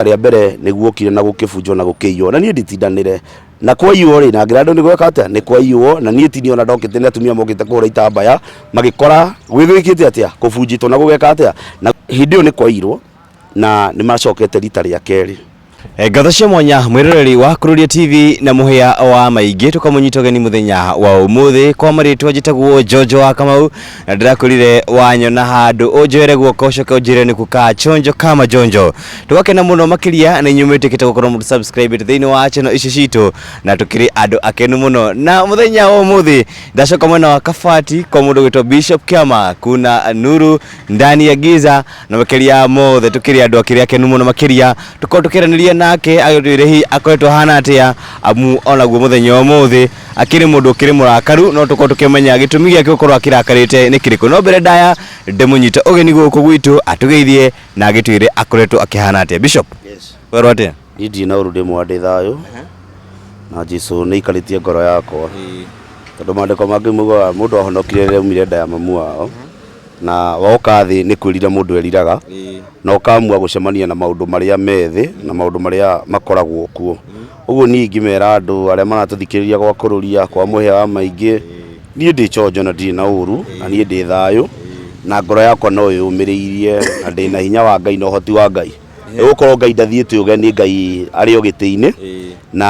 rita rĩa mbere nĩ guokire na gũkĩbunjwo na gũkĩiywo na niĩ nditindanĩre na kwaiywo rĩ na ngĩra andũ nĩ gweka atĩa nĩ kwaiywo na niĩ tini ona ndokĩte nĩ atumia mokĩte kũhũra itambaya magĩkora gwĩgwĩkĩte atĩa kũbunjĩtwo na gũgeka atĩa na hĩndĩ ĩyo nĩ kwaiyirwo na nĩ macokete rita rĩa kerĩ Eh, Ngatho cia mwanya mwĩroreri wa Kururia TV na mũhĩa wa maingĩ tũkamũnyita ũgeni mũthenya wa ũmũthĩ kwa marĩtwa njĩtagwo Jojo wa Kamau na ndĩrakwĩrire wanyona handũ ũnjoere guoko ũcoke ũnjĩre nĩku ka chonjo kama jonjo tũgakena mũno makĩria nĩ inyuĩ mwĩtĩkĩte gũkorwo mũndũ subscribe thĩinĩ wa channel ici citũ na tũkĩrĩ andũ akenu mũno na mũthenya wa ũmũthĩ ndacoka mwena wa kabati kwa mũndũ gwĩtwo bishop kiama kuna nuru ndani ya giza na makĩria mothe tũkĩrĩ andũ akĩrĩ akenu mũno makĩria tũkorwo tũkĩaranĩria nake agĩtwĩre hihi akoretwo ahana atĩa amu onaguo mũthenya wa ũmũthĩ akĩrĩ mũndũ ũkĩrĩ mũrakaru no tũkorwo tũkĩmenya gĩtũmi gĩake gũkorwo akĩrakarĩte nĩ kĩrĩkũ no mbere ndaya ndĩmũnyite ũgeni gũkũ gwitũ atũgeithie na agĩtwĩre akoretwo akĩhana atĩa bishop Yes. werwo atĩa Niĩ ndirĩ na ũru ndĩ mwega ndĩ thayũ na Jesu nĩ aikarĩtie ngoro yakwa tondũ maandĩko mangĩ mugaga mũndũ ahonokire rĩrĩa aumire nda ya mamu wao Na woka thĩ nĩ kwĩrira mũndũ eriraga, na ũkamua gũcemania na maũndũ marĩa me thĩ na maũndũ marĩa makoragwo kuo. Ũguo niĩ ingĩmera andũ arĩa maratũthikĩrĩria gwa kũrũria, kwa mũhĩa wa maingĩ, niĩ ndĩ chonjo na ndirĩ na ũru, na niĩ ndĩ thayũ, na ngoro yakwa no ĩyũmĩrĩirie, na ndĩ na hinya wa Ngai na ũhoti wa Ngai. Nĩ gũkorwo Ngai ndathiĩte ũgeni, Ngai arĩ o gĩtĩ-inĩ, na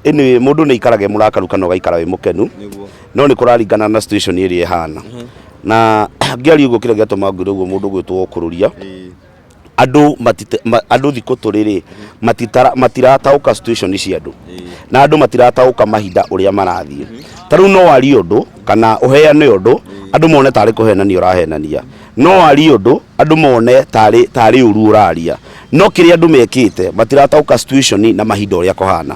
anyway mũndũ nĩ aikaraga e mũrakaru kana ũgaikara wĩ mũkenu. no nä kå raringana na situation ä rä a ä hana na ngĩaria ũguo kĩrĩa gĩatũma ngwĩre ũguo mũndũ gwĩtwo ũkũrũria andũ matite- ma- andũ thikũ tũrĩ rĩ matitara- matirataũka situation cia andũ na andũ matirataũka mahinda ũrĩa marathiĩ ta rĩu no warie ũndũ kana ũheane ũndũ andũ mone tarĩ kũhenania ũrahenania no warie ũndũ andũ mone tarĩ tarĩ ũru ũraria no kĩrĩa andũ mekĩte matirataũka situation na mahinda ũrĩa kũhana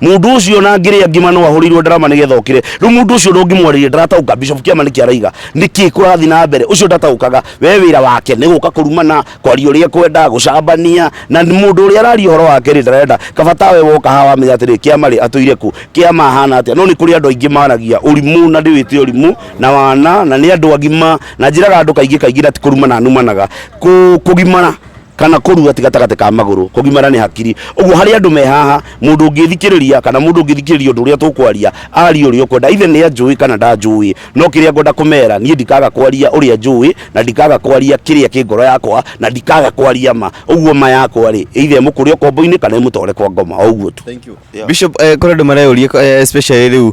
mundu ucio na ngiria ngima no ahurirwo ndarama nigetha okire riu mundu ucio ndungimwaririe ndarataguka bishop kiama niki araiga niki kurathi na mbere ucio ndatagukaga we wira wake ni guka kurumana kwaria uria kwenda gucambania na mundu uria araria horo wake ri ndarenda kabata we woka hawa menya atiri kiama ri atuire ku kiama hana atia no ni kuri andu aingi maragia urimu na ndiwite urimu na wana na ni andu agima na njiraga andu kaingi kaingi na ti kurumana numanaga Ku- kugimana kana kũrua ti gatagatĩ ka magũrũ kũgimara nĩ hakiri ũguo harĩ andũ me haha mũndũ ũngĩthikĩrĩria kana mũndũ ũngĩthikĩrĩria ũndũ ũrĩa tũkwaria aria ũrĩa ũkwenda ithe nĩ anjũĩ kana ndanjũĩ no kĩrĩa ngwenda kũmera niĩ ndikaga kwaria ũrĩa njũĩ na ndikaga kwaria kĩrĩa kĩ ngoro yakwa na ndikaga kwaria ma ũguo ma yakwa rĩ ithe mũkũrĩa ũkombo-inĩ kana ĩmũtware kwa ngoma o ũguo tu Thank you. Bishop, eh, kũrĩ andũ mareyũria eh, especially rĩu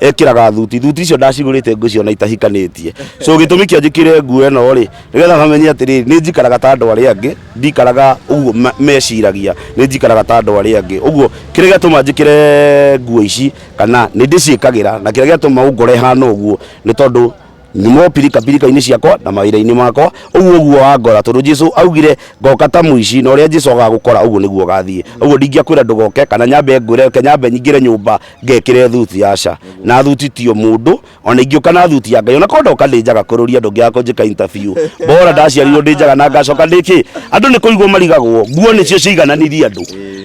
ekĩraga thuti thuti icio ndacigũrĩte ngũ ciona itahikanĩtie so gĩtũmi kĩa njĩkĩre nguo ĩno rĩ nĩgetha mamenye atĩrĩrĩ nĩ njikaraga ta andũ arĩa angĩ ndikaraga ũguo ma- meciragia nĩ njikaraga ta andũ arĩa angĩ ũguo kĩrĩa gĩatũma njĩkĩre nguo ici kana nĩ ndĩciĩkagĩra na kĩrĩa gĩatũma ũngore hana ũguo nĩ tondũ Nyumo pirikapirika-inĩ ciakwa na mawĩra-inĩ makwa, ũguo ũguo wangora. Tondũ Jesu augire, Ngoka ta mũici, na ũrĩa Jesu agaga gũkora, ũguo nĩguo ũgathiĩ. Ũguo ndingĩakwĩra ndũgoke, kana nyambe ngwĩre, reke nyambe nyingĩre nyũmba ngekĩre thuti, aca. Na thuti ti o mũndũ, o na ingĩũka na thuti ya Ngai, o na korwo ndoka ndĩ njaga kũrũria, ndũngĩaga kũnjĩka interview. Bora ndaciarirwo ndĩ njaga na ngacoka ndĩ kĩ? Andũ nĩ kũrigwo marigagwo. Nguo nĩcio ciaigananirie andũ.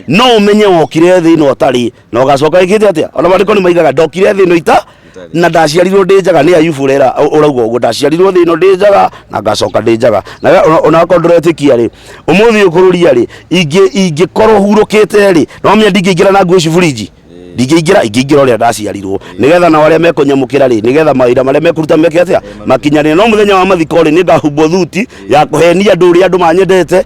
No ũmenye wokire thĩ ĩno ũtarĩ. na ũgacoka ĩkĩte atĩa ona maandĩko nĩ maigaga ndokire thĩ ĩno ita na ndaciarirwo ndĩ njaga nĩ ayubu ũrera ũrauga ũguo ndaciarirwo thĩ ĩno ndĩ njaga na ngacoka ndĩ njaga na we ona- ona akorwo ndũretĩkia rĩ ũmũthĩ ũyũ kũrũria rĩ ingĩ- ingĩkorwo hurũkĩte rĩ no menya ndingĩingĩra na nguo ciburinji ndingĩingĩra ingĩingĩra ũrĩa ndaciarirwo nĩgetha na arĩa mekũnyamũkĩra rĩ nĩgetha mawĩra marĩa mekũruta meke atĩa makinyanĩre no mũthenya wa mathiko rĩ nĩngahumbwo thuti ya kũhenia andũ ũrĩa andũ manyendete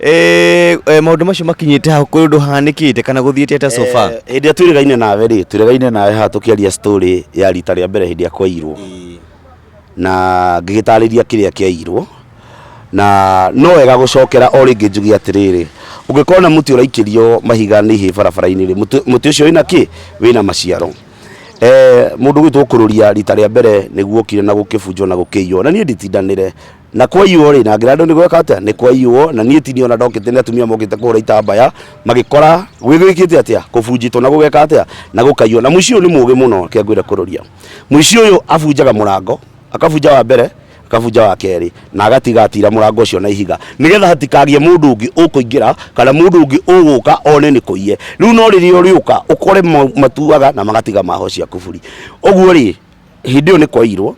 Eh, eh, maundu macio makinyite hau kuri undu hanikite kana guthiite ata so far Eh, hĩndĩ ĩrĩa twĩrĩgaine nawe rĩ twĩrĩgaine nawe haha tũkĩaria story ya rita rĩa mbere hĩndĩ ĩrĩa kwairwo na ngĩgĩtarĩria kĩrĩa kĩairwo na no wega gũcokera o rĩngĩ njuge atĩrĩrĩ ũngĩkona mũtĩ ũraikĩrio mahiga nĩ ihĩ barabara-inĩ rĩ mũtĩ mũtĩ ũcio wĩna kĩ wĩna maciaro Eh, mũndũ gwitũ kũrũria rita rĩa mbere nĩguo okire na gũkĩbunjwo na gũkĩiywo na niĩ nditindanĩre na kwaiywo rĩ na ngĩra andũ nĩ gweka atĩa nĩ kwaiywo na niĩ tini ona ndokĩte nĩ atumia mokĩte kũhũra itambaya magĩkora gwĩgwĩkĩte atĩa kũbunjĩtwo na gũgeka atĩa na gũkaiywo na mũici ũyũ nĩ mũgĩ mũno kĩa ngwĩre kũrũria mũici ũyũ abunjaga mũrango akabunja wa mbere akabunja wa kerĩ na agatiga atira mũrango ũcio na ihiga nĩgetha hatikagĩe mũndũ ũngĩ ũkũingĩra kana mũndũ ũngĩ ũgũka one nĩ kũiye rĩu no rĩrĩa ũrĩũka ũkore ma- matuaga na magatiga maho cia kuburi ũguo rĩ hĩndĩ ĩyo nĩ kwairwo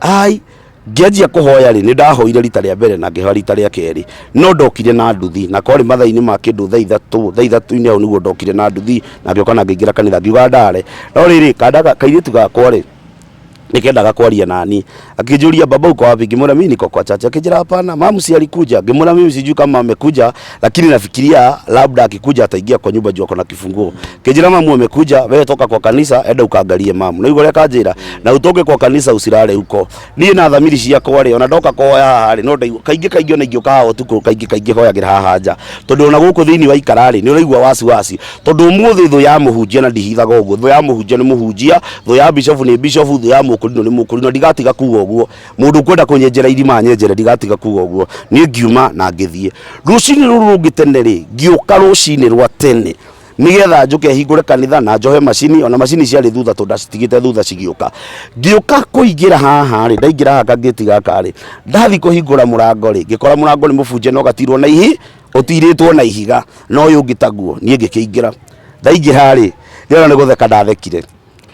ai ngĩanjia kũhoya rĩ nĩ ndahoire rita rĩa mbere na ngĩhoya rita rĩa kerĩ no ndokire na nduthi na korĩ mathainĩ ma kĩndũ thaa ithatũ thaa ithatũ-inĩ hau nĩguo ndokire na nduthi na ngĩoka na ngĩingĩra kanitha ngiuga ndare no rĩrĩ kanda ga- kairĩtu gakwa rĩ nikendaga kwaria nani akĩnjũria baba uko wapi ngĩmwĩra mimi niko kwa chacha akĩnjĩra hapana mamu si alikuja ngĩmwĩra mimi sijui kama amekuja lakini nafikiria labda akikuja ataingia kwa nyumba juu ako na kifunguo kijira mamu amekuja wewe toka kwa kanisa enda ukaangalie mamu na yugo reka njira na utoke kwa kanisa usirare huko niĩ na thamiri ciakwa rĩ ona ndoka kuhoya haha rĩ no ndaigua kaingĩ kaingĩ ona ingĩũka haha ũtukũ kaingĩ kaingĩ hoyagĩra haha nja tondũ ona gũkũ thĩinĩ wa ikara rĩ nĩ ũraigua wasiwasi tondũ ũmũthĩ thũ ya mũhunjia na ndihithaga ũguo thũ ya mũhunjia nĩ mũhunjia thũ ya bishofu nĩ bishofu thũ ya mũkũrinũ nĩ mũkũrinũ na ndigatiga kuga ũguo Mũndũ ũkwenda kũnyenjera irima anyenjere, ndigatiga kuga ũguo. Niĩ ngiuma na ngĩthiĩ. Rũcinĩ rũu rũngĩ tene rĩ, ngĩũka rũcinĩ rwa tene nĩgetha njũke hingũre kanitha na njohe macini ona macini ciarĩ thutha tondũ ndacitigĩte thutha cigĩũka ngĩũka kũingĩra haha rĩ ndaingĩra haha kangĩti gaka rĩ ndathi kũhingũra mũrango rĩ ngĩkora mũrango nĩ mũbunje na ũgatirwo na ihi ũtirĩtwo na ihiga na ũyũ ũngĩ taguo niĩ ngĩkĩingĩra ndaingĩra rĩ ndĩrona nĩ gũtheka ndathekire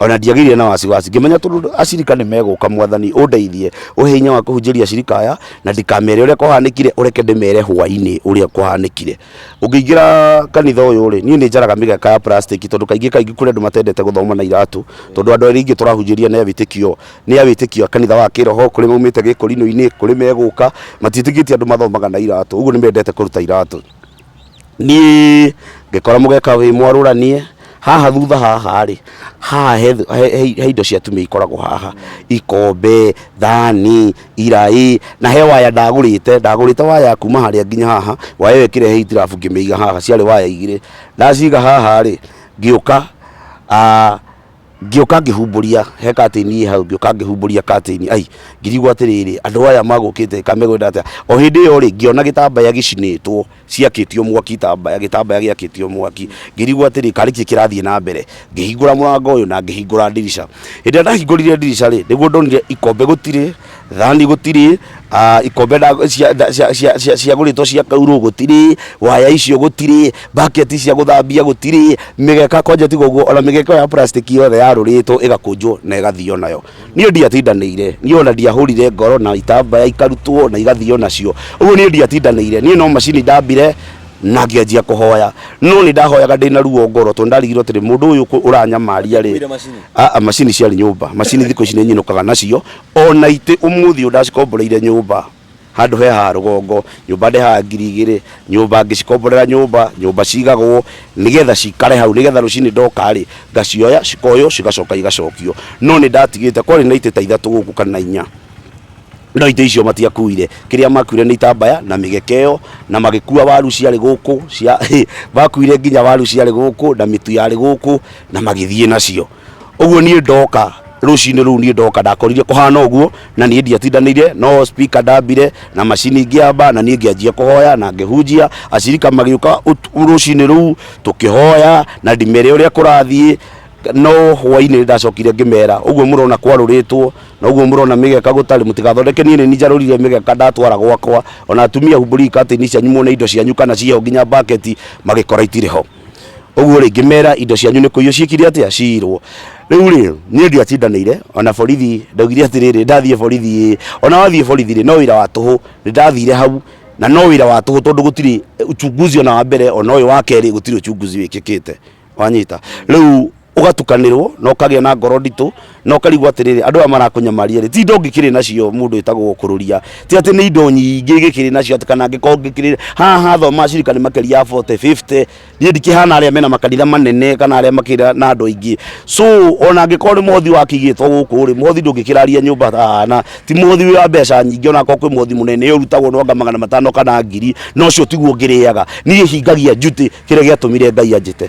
ona ndiagĩire na wasiwasi ngĩmenya tondũ acirika nĩ megũka mwathani ũndeithie ũhe hinya wa kũhunjĩria acirika aya na ndikamere ũrĩa kwahanĩkire ũreke ndĩmere hwainĩ ũrĩa kwahanĩkire ũngĩingĩra kanitha ũyũ rĩ niĩ nĩ njaraga mĩgeka ya plastic tondũ kaingĩ kaingĩ kũrĩ andũ matendete gũthoma na iratũ tondũ andũ arĩa ingĩ tũrahunjĩria nĩ awĩtĩkio nĩ awĩtĩkio a kanitha wa kĩroho kũrĩ maumĩte gĩkũrinũ-inĩ kũrĩ megũka matiĩtĩkĩtie andũ mathomaga na iratũ ũguo nĩ mendete kũruta iratũ niĩ ngĩkora mũgeka wĩ mwarũranie haha thutha haha rĩ haha he, he, he, he indo cia tumia ikoragwo haha ikombe thani iraĩ na he waya ndagũrĩte ndagũrĩte waya kuma harĩa nginya haha waya ĩyo ĩkĩrehe itirabu ngĩmĩiga haha ciarĩ waya igĩrĩ ndaciga haha rĩ ngĩũka ah, ngĩũka ngĩhumbũria he katĩini ĩ hau ngĩũka ngĩhumbũria katĩini ai ngĩrigwo atĩrĩrĩ andũ aya magũkĩte ka megwenda atĩa o hĩndĩ ĩyo rĩ ngĩona gĩtambaya gĩcinĩtwo ciakĩtio mwaki itambaya gĩtambaya gĩakĩtio mwaki ngĩrigwo atĩrĩ karĩ kĩ kĩrathiĩ na mbere ngĩhingũra mũrango ũyũ na ngĩhingũra ndirica hĩndĩ ĩrĩa ndahingũrire ndirica rĩ nĩguo ndonire ikombe gũtirĩ Thani gũtirĩ, ah, ikombe nda- cia- nda- cia- cia- cia- ciagũrĩtwo cia kaurũ gũtirĩ, waya icio gũtirĩ, bucket cia gũthambia gũtirĩ, mĩgeka kwanja tiga ũguo ona mĩgeka ĩyo ya plastic yothe yarũrĩtwo ĩgakũnjwo na ĩgathio nayo. Niĩ ndiatindanĩire, niĩ ona ndiahũrire ngoro na itambaya ikarutwo na igathio nacio. Ũguo niĩ ndiatindanĩire, niĩ no macini ndambire na ngĩanjia kũhoya. No nĩ ndahoyaga ndĩna ruo ngoro tondũ ndarigirwo atĩrĩ mũndũ ũyũ kũ- ũranyamaria rĩ, Ũkuire macini? Aa, macini ciarĩ nyũmba macini thikũ ici nĩ nyinũkaga nacio O na itĩ ũmũthĩ ũyũ ndacikomboreire nyũmba handũ he ha rũgongo, nyũmba ndehaga ngiri igĩrĩ, nyũmba ngĩcikomborera nyũmba, nyũmba cigagwo nĩgetha cikare hau nĩgetha rũcinĩ ndoka rĩ, ngacioya cikoywo cigacoka igacokio. No nĩ ndatigĩte, kwarĩ na itĩ ta ithatũ gũkũ kana inya, no itĩ icio matiakuire, kĩrĩa makuire nĩ itambaya na mĩgeka ĩyo, na magĩkua waru ciarĩ gũkũ, makuire nginya waru ciarĩ gũkũ na mĩtu yarĩ gũkũ na magĩthiĩ nacio. Ũguo niĩ ndoka rũcinĩ rũu niĩ ndoka ndakorire kũhana ũguo na niĩ ndiatindanĩire no speaker ndambire na macini ngĩamba na niĩ ngĩanjia kũhoya na ngĩhunjia acirika magĩũka ũtu- rũcinĩ rũu tũkĩhoya na ndimere ũrĩa kũrathiĩ no hwainĩ nĩ ndacokire ngĩmera ũguo mũrona kwarũrĩtwo na ũguo mũrona mĩgeka gũtarĩ mũtigathondeke niĩ nĩ njarũrire mĩgeka ndatwara gwakwa ona atumia humbũri ikatĩ-inĩ cianyu muone indo cianyu kana ciĩho nginya mbaketi magĩkora itirĩ ho ũguo rĩngĩ mera indo cianyu nĩ kũiywo ciĩkire atĩa ciirwo rĩu rĩ niĩ ndiatindanĩire ona borithi ndaugire atĩrĩrĩ ndathiĩ borithi ĩ ona wathiĩ borithi rĩ no wĩra wa tũhũ nĩ ndathire hau na no wĩra wa tũhũ tondũ gũtirĩ uchunguzi ona wa mbere ona ũyũ wa kerĩ gũtirĩ uchunguzi wĩkĩkĩte wanyita rĩu ũgatukanĩrwo na ũkagĩa na ngoro nditũ na ũkarigwo atĩrĩrĩ andũ aya marakũnyamaria rĩ ti indo ngĩkĩrĩ nacio mũndũ ĩtagwo kũrũria ti atĩ nĩ indo nyingĩ gĩkĩrĩ nacio atĩ kana ngĩkorwo ngĩkĩrĩ haha thoma cirika nĩ makĩria ya 40 50 niĩ ndikĩhana arĩa mena makanitha manene kana arĩa makĩra na andũ aingĩ so ona ngĩkorwo nĩ mothi wakĩigĩtwo gũkũ rĩ mothi ndũngĩkĩraria nyũmba ah, na ti mothi wĩ wa mbeca nyingĩ ona korwo kwĩ mothi mũnene ũrutagwo na anga magana matano kana ngiri na ũcio tiguo ngĩrĩaga niĩ hingagia njuti kĩrĩa gĩatũmire ngai anjĩte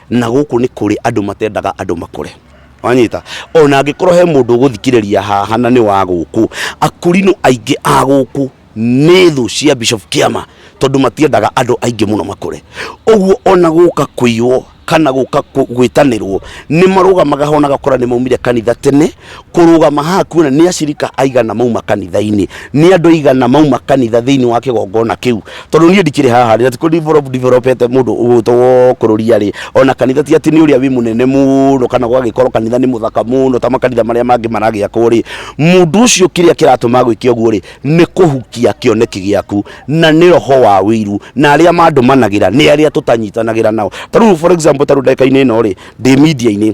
na gũkũ nĩ kũrĩ andũ matendaga andũ makũre wanyita ona angĩkorwo he mũndũ ũgũthikĩrĩria haha na nĩ wa gũkũ akũrinũ aingĩ a gũkũ nĩ thũ cia bishop kĩama tondũ matiendaga andũ aingĩ mũno makũre ũguo ona gũka kũiywo kana gũka kũ- gwĩtanĩrwo nĩ marũgamaga hona gakora nĩ maumire kanitha tene kũrũgama haha kuona nĩ acirika aigana mauma kanitha-inĩ nĩ andũ aigana mauma kanitha thĩinĩ wa kĩgongona kĩu tondũ niĩ ndikĩrĩ haha rĩ natikũ developete mũndũ ũgũtwo wo kũrũria rĩ ona kanitha ti atĩ nĩ ũrĩa wĩ mũnene mũno kana gwagĩkorwo kanitha nĩ mũthaka mũno ta makanitha marĩa mangĩ maragĩakwo rĩ mũndũ ũcio kĩrĩa kĩratũma gwĩke ũguo rĩ nĩ kũhukia kĩoneki gĩaku na nĩ roho wa wĩiru na arĩa mandũmanagĩra nĩ arĩa tũtanyitanagĩra nao ta rĩu for example ta rĩu ndagĩka-inĩ ĩno rĩ ndĩ media-inĩ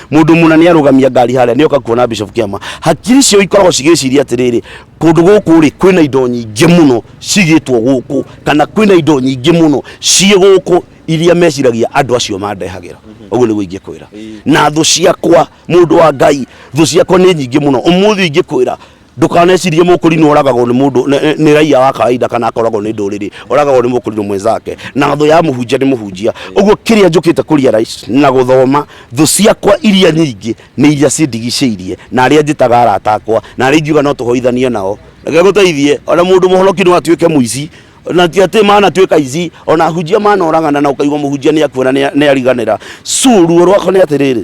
mundu muna ni arugamia ngari haria ni oka kuona bishop kiama hakiri cio ikoragwo cigiciria atiriri kundu guku ri kwina indo nyingi muno cigitwo guku kana kwina indo nyingi muno cie guku iria meciragia andu acio mandehagira uguo niguo ingikwira na thu ciakwa mundu wa ngai thu ciakwa ni nyingi muno umuthi ingikwira Ndũkanecirie mũkũrinwo oragagwo nĩ mũndũ nĩ- nĩ- nĩ raiya wa kawaida kana akoragwo nĩ ndũrĩrĩ oragagwo nĩ mũkũrinwo mwenzake na thũ ya mũhunjia nĩ mũhunjia ũguo kĩrĩa njũkĩte kũria rais na gũthoma thũ ciakwa iria nyingĩ nĩ iria cindigicĩirie na arĩa njĩtaga arata akwa na arĩa ingiuga no tũhoithanie nao reke gũteithie ona mũndũ mũhonoki no atuĩke mũici na ti atĩ manatuĩka aici ona hunjia manoragana na ũkaigua mũhunjia nĩ akuona nĩ ariganĩra so ruo rwakwa nĩ atĩrĩrĩ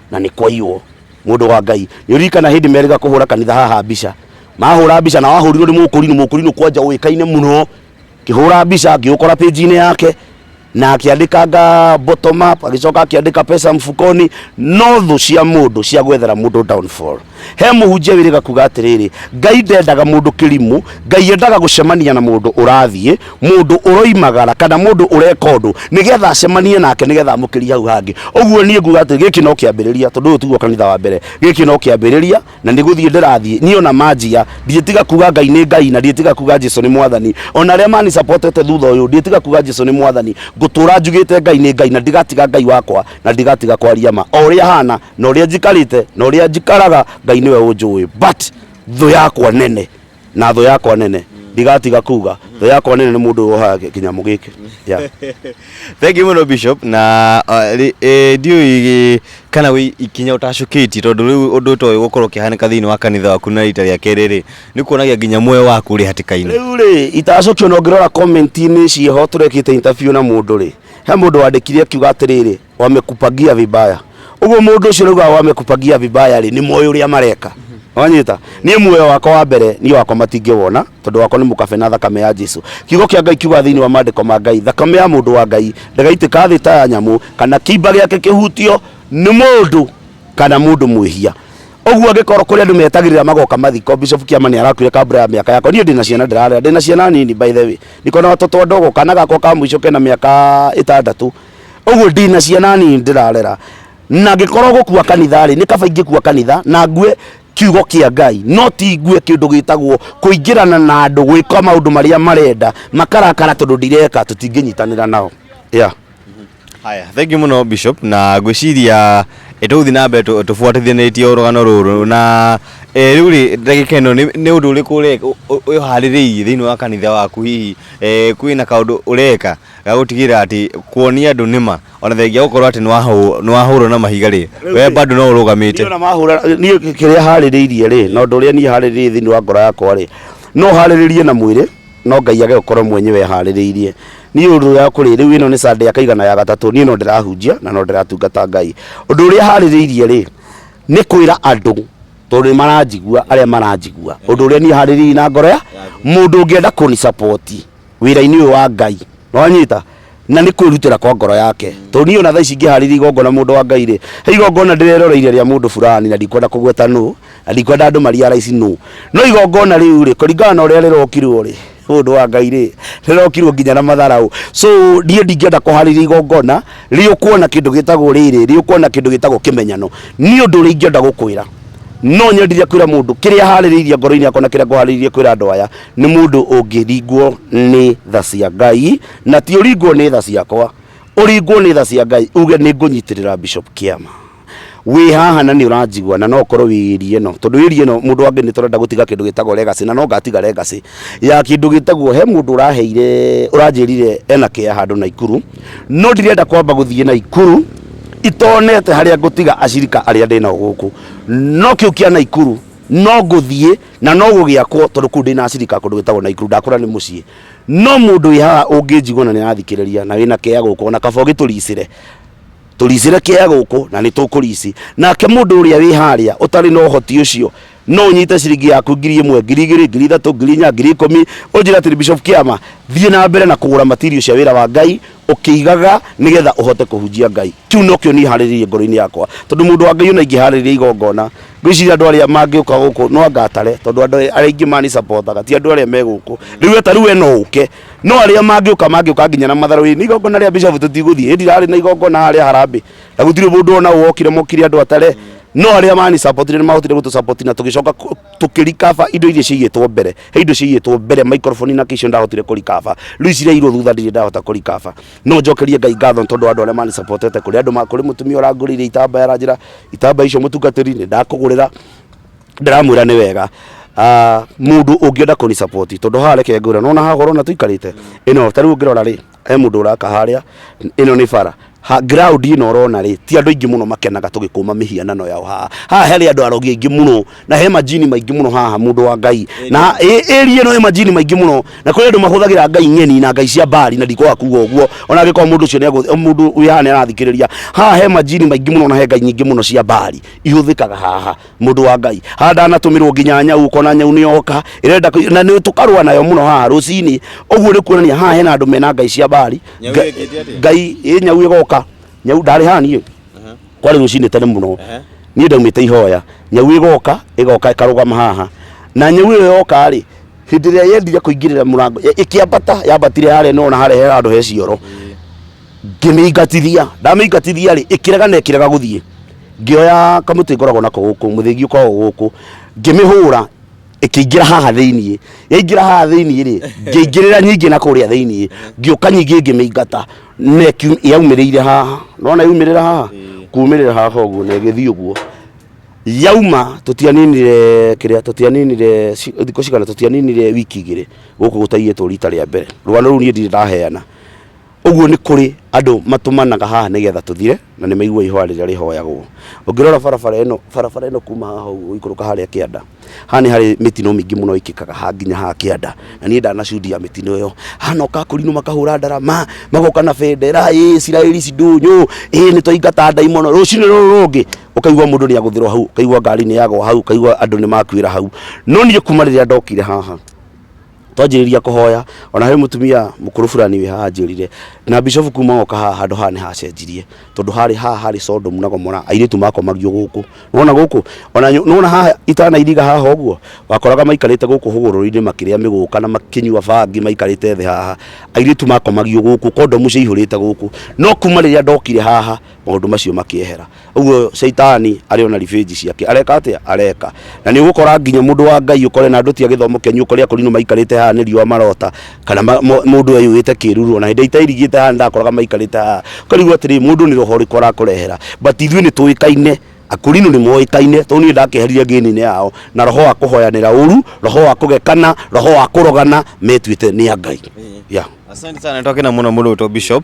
na nĩ kwaiywo mũndũ wa ngai nĩ ũririkana hĩndĩ merĩga kũhũra kanitha haha mbica mahũra mbica na wahũrirwo nĩ mũkũrinũ mũkũrinũ kwanja ũĩkaine mũno kĩhũra mbica ngĩũkora page-inĩ yake na akĩandĩkanga bottom up agĩcoka akĩandĩka pesa mfukoni no thũ cia mũndũ cia gwethera mũndũ downfall he mũhunjia wĩrĩga kuga atĩrĩrĩ ngai ndendaga mũndũ kĩrimũ ngai endaga gũcemania na mũndũ ũrathiĩ mũndũ ũroimagara kana mũndũ ũreka ũndũ nĩgetha acemanie nake nĩgetha amũkĩrie hau hangĩ ũguo niĩ nguga atĩ gĩkĩ no kĩambĩrĩria tondũ ũyũ tiguo kanitha wa mbere gĩkĩ no kĩambĩrĩria na nĩ gũthiĩ ndĩrathiĩ niĩ ona manjia ndiĩtiga kuga ngai nĩ ngai na ndiĩtiga kuga jesu nĩ mwathani ona arĩa manisapotete thutha ũyũ ndiĩtiga kuga jesu nĩ mwathani ngũtũra njugĩte ngai nĩ ngai na ndigatiga ngai wakwa na ndigatiga kwaria ma o ũrĩa hana na ũrĩa njikarĩte na ũrĩa njikaraga ngai nĩwe ũnjũĩ but thũ yakwa nene na thũ yakwa nene ndigatiga kuga thũ yakwa nene nĩ mũndũ wohaga kĩ- kĩnyamũ gĩkĩ yeah. thank you muno bishop na uh, rĩ- eh, ndiũĩ gĩ- kana wĩ ikinya ũtacũkĩtie tondũ rĩu ũndũ ũtoĩ gũkorwo ũkĩhanĩka thĩinĩ wa kanitha waku na rita rĩa kerĩ rĩ nĩ kuonagia nginya muoyo waku ũrĩ hatĩka-inĩ rĩu rĩ itacokio na ũngĩrora komenti-inĩ cieho tũrekĩte interview na mũndũ rĩ he mũndũ wandĩkire akiuga atĩrĩrĩ wamekupagia vibaya uguo mundu ucio rauga wamekupagia vibaya ri ni moyo uria mareka wanyita niä muoyo wakwa wa mbere niä wakwa matingä wona tondå wakwa nä må kabe na thakame ya jesu kiugo kä a ngai kiuga thä inä wa mandä ko ma ngai thakame ya må ndå wa ngai ndagaitä ka thä ta ya nyamå kana kimba gä ake kä hutio nä må ndå kana må ndå mwä hia ũguo angĩkorwo kũrĩ andũ metagĩrĩra magoka mathiko bishop kiama nĩ arakuire kambura ya mĩaka yakwa niĩ ndĩna ciana ndĩrarera ndĩna ciana nini by the way niko na watoto wadogo kana gakwa ka mũico kena mĩaka ĩtandatũ ũguo ndi na ciana nini ndĩrarera na ngĩkorwo gũkua kanitha-rĩ nĩ kaba ingĩkua kanitha na ngue kiugo kĩa ngai no ti ngue kĩndũ gĩtagwo kũingĩrana na andũ gwĩka maũndũ marĩa marenda makarakara tondũ ndireka tũtingĩnyitanĩra nao yeah. haya thengi muno bishop na ngwiciria ĩtũgũthi na mbere tũ- tũbuatithanĩtie ũrũgano rũrũ na eh, rĩu rĩ ndagĩka ĩno nĩ nĩ ũndũ ũrĩkũ ũreka ũharĩrĩirie thĩinĩ wa kanitha waku hihi eh, kwĩna kaũndũ ũreka ga gũtigĩrĩra atĩ kuonia andũ nĩma ona thengia gũkorwo atĩ nĩ wahũrwo na mahiga rĩ we bado no ũrũgamĩte niĩ kĩrĩa harĩrĩirie rĩ na ũndũ ũrĩa niĩ harĩrĩirie thĩinĩ wa ngoro yakwa rĩ no harĩrĩrie na mwĩrĩ no ngai age gũkorwo mwenyewe harĩrĩirie niĩ ũndũ ya kũrĩ rĩu ĩno nĩ sunday ya kaigana ya gatatũ niĩ no ndĩrahunjia na no ndĩratungata ngai ũndũ ũrĩa harĩrĩirie rĩ nĩ kwĩra andũ tondũ nĩ maranjigua arĩa maranjigua ũndũ ũrĩa niĩ harĩrĩirie na ngoro ya mũndũ ũngĩenda kũni support wĩra-inĩ ũyũ wa Ngai. Nĩwanyita? Na nĩ kwĩrutĩra kwa ngoro yake. Tondũ niĩ ona thaa ici ingĩharĩria igongona mũndũ wa Ngai rĩ, he igongona ndĩreroreire rĩa mũndũ fulani na ndikwenda kũgweta nũ, na ndikwenda andũ marealize nũ. No igongona rĩu rĩ, kũringana na ũrĩa rĩrokirwo rĩ, mũndũ wa Ngai rĩ, rĩrokirwo nginya na matharaũ. So niĩ ndingĩenda kũharĩria igongona rĩ ũkuona kĩndũ gĩtagwo rĩrĩ, rĩ ũkuona kĩndũ gĩtagwo kĩmenyano. Niĩ ũndũ ũrĩa ingĩenda gũkwĩra, no nyendire kwĩra mũndũ kĩrĩa harĩrĩirie ngoro-inĩ yakwa na kĩrĩa ngũharĩrĩirie kwĩra andũ aya, nĩ mũndũ ũngĩringwo nĩ tha cia ngai na ti ũringwo nĩ tha ciakwa ũringwo nĩ tha cia ngai uge nĩ ngũnyitĩrĩra bishop kĩama wĩ haha na nĩ ũranjigua na no ũkorwo wĩ ĩri ĩno tondũ ĩri ĩno mũndũ wangĩ nĩ tũrenda gũtiga kĩndũ gĩtagwo legacy na no ngatiga legacy ya kĩndũ gĩtagwo he mũndũ ũraheire ũranjĩrire ena kĩa handũ na ikuru no ndirenda kwamba gũthiĩ na ikuru itonete harĩa ngũtiga acirika arĩa ndĩnao gũkũ no kĩu kĩa naikuru no ngũthiĩ Na no gũgĩakwo, tondũ kũu ndĩ na acirika kũndũ gwĩtagwo Naikuru, ndakũra nĩ mũciĩ. No mũndũ wĩ haha ũngĩnjigua na nĩ arathikĩrĩria na wĩna kea gũkũ, o na kaba ũgĩtũricĩre, tũricĩre kea gũkũ na nĩ tũkũrici. Nake mũndũ ũrĩa wĩ harĩa ũtarĩ na ũhoti ũcio, no ũnyite ciringi yaku ngiri ĩmwe, ngiri igĩrĩ, ngiri ithatũ, ngiri inya, ngiri ikũmi, ũnjĩre atĩrĩ, Bishop Kĩama, thiĩ na mbere na kũgũra material cia wĩra wa Ngai, ũkĩigaga nĩ getha ũhote kũhunjia ngai kĩu no kĩo niĩ harĩrĩirie ngoro-inĩ yakwa tondũ mũndũ wa ngai ona ingĩharĩrĩria igongona ngwĩciria andũ arĩa mangĩũka gũkũ no anga atare tondũ andũ arĩa aingĩ mani supportaga ti andũ arĩa me gũkũ rĩu we ta rĩu we no ũke no arĩa mangĩũka mangĩũka nginya na matharũ ĩ nĩ igongona rĩa bishofu tũtigũthiĩ ĩndi rarĩ na igongona harĩa harambĩ na gũtirĩ mũndũ ona ũ wokire mokire andũ atare no arĩa mani supportire nĩ mahotire gũtũ support na tũgĩcoka kũ- tũkĩrikaba indo iria ciigĩtwo mbere he indo ciaiyĩtwo mbere microphone na kisho ndahotire kũrikaba rĩu icirairwo thutha ndirĩ ndahota kũrikaba no njokerie ngai ngatho nĩ tondũ wa andũ arĩa mani supportete kũrĩ andũ ma kũrĩ mũtumia ũrangũrĩire itambaya aranjĩra itambaya icio mũtungatĩri nĩ ndakũgũrĩra ndĩramwĩra nĩ wega Ah, mũndũ ũngĩenda kũni support tondũ haha reke ngwĩra nona haha ũrona tũikarĩte ĩno ta rĩu ũngĩrora rĩ he mũndũ ũraka harĩa ĩno nĩ bara ha ground ĩno ũrona rĩ ti andũ aingĩ mũno makenaga tũgĩkũma mĩhianano yao haha haha harĩ andũ arogi aingĩ mũno na he majini maingĩ mũno haha mũndũ wa ngai na ĩ- ĩri ĩno ĩ majini maingĩ mũno na kũrĩ andũ mahũthagĩra ngai ng'eni na ngai cia mbari na ndikwaga kuga ũguo ona angĩkorwo mũndũ ũcio nĩegũ- mũndũ wĩ haha nĩarathikĩrĩria haha he majini maingĩ mũno na he ngai nyingĩ mũno cia mbari ihũthĩkaga haha mundu wa ngai haha ndanatũmĩrwo nginya nyau ũkona nyau nĩyoka ĩrenda kũ- na nĩ tũkarũa nayo mũno haha rũcinĩ ũguo nĩ kuonania haha hena andũ mena ngai cia mbari Nyau Nga- ĩkĩte atĩa? ngai ĩ nyau ĩgoka nyau ndarĩ haha niĩ Aha. kwarĩ rũcinĩ tene mũno Aha. niĩ ndaumĩte ihoya nyau ĩgoka ĩgoka ĩkarũgama haha na nyau ĩyo yoka rĩ hĩndĩ ĩrĩa yendire kũingĩrĩra mũrango ĩ- ĩkĩambata yambatire harĩa nona harĩa he handũ he cioro ngĩmĩingatithia ndamĩingatithia rĩ ĩkĩrega na ĩkĩrega gũthiĩ ngĩoya kamũtĩ ngoragwo nako gũkũ mũthĩgi ũkoragwo gũkũ ngĩmĩhũra ĩkĩingĩra haha thĩiniĩ yaingĩra haha thĩiniĩ rĩ ngĩingĩrĩra nyingĩ na kũrĩa thĩiniĩ ngĩũka nyingĩ ngĩmĩingata na ĩkiu- yaumĩrĩire haha nona yaumĩrĩra haha kumĩrĩra haha ũguo na ĩgĩthiĩ ũguo yauma tũtianinire kĩrĩa tũtianinire ci- thikũ cigana tũtianinire wiki igĩrĩ gũkũ gũtaiyĩtwo rita rĩa mbere rũgano rũu niĩ ndirĩ ndaheana ũguo nĩ kũrĩ andũ matũmanaga haha nĩgetha tũthire na nĩ maigua ihoya rĩrĩa rĩhoyagwo ũngĩrora barabara ĩno barabara ĩno kuma haha ũguo ũikũrũka harĩa kĩanda haha nĩ harĩ mĩtino mĩingĩ mũno ĩkĩkaga haha nginya haha kĩanda na niĩ ndanacudia mĩtino ĩyo hana ũkakũrinwo makahũra ndarama magoka na bendera ĩ Isiraeli ici ndũnyũ ĩ nĩ twaingata ndaimono rũcinĩ rũrũ rũngĩ ũkaigua mũndũ nĩ agũthĩrwo hau ũkaigua ngari nĩ yagwa hau ũkaigua andũ nĩ makuĩra hau no niĩ kuma rĩrĩa ndokire haha twanjĩrĩria kũhoya ona harĩ mũtumia mũkũrũ burani wĩ haha anjĩrire na bishofu kuma ngoka haha handũ haha nĩ hacenjirie tondũ harĩ haha harĩ Sodom na Gomora airĩtu makomagio gũkũ nona gũkũ ona nyo- nona haha itanairiga haha ũguo wakoraga maikarĩte gũkũ hũgũrũrũ-inĩ makĩrĩa mĩgũka na makĩnyua bangi maikarĩte thĩ haha airĩtu makomagio gũkũ kondomu ciaihũrĩte gũkũ no kuma rĩrĩa ndokire haha maũndũ macio makĩehera uguo shaitani ari ona revenge ciake areka atia areka na ni ugukora nginya mundu wa ngai ukore na nduti agithomo kenyu ukore akorinu maikarite haha ni riwa marota kana ma- mo- mundu ayuite kiruru ona hindi itairigite haha ndakoraga maikarite haha ukarigwo atiri mundu ni roho riku arakurehera but ithui ni tuikaine akurinu ni moikaine to ni ndakiherire ngini-ini yao na roho wa kuhoyanira uru roho wa kugekana roho wa kurogana metuite ni a ngai yeah. Asante sana, nitoke na mwana mulu to Bishop.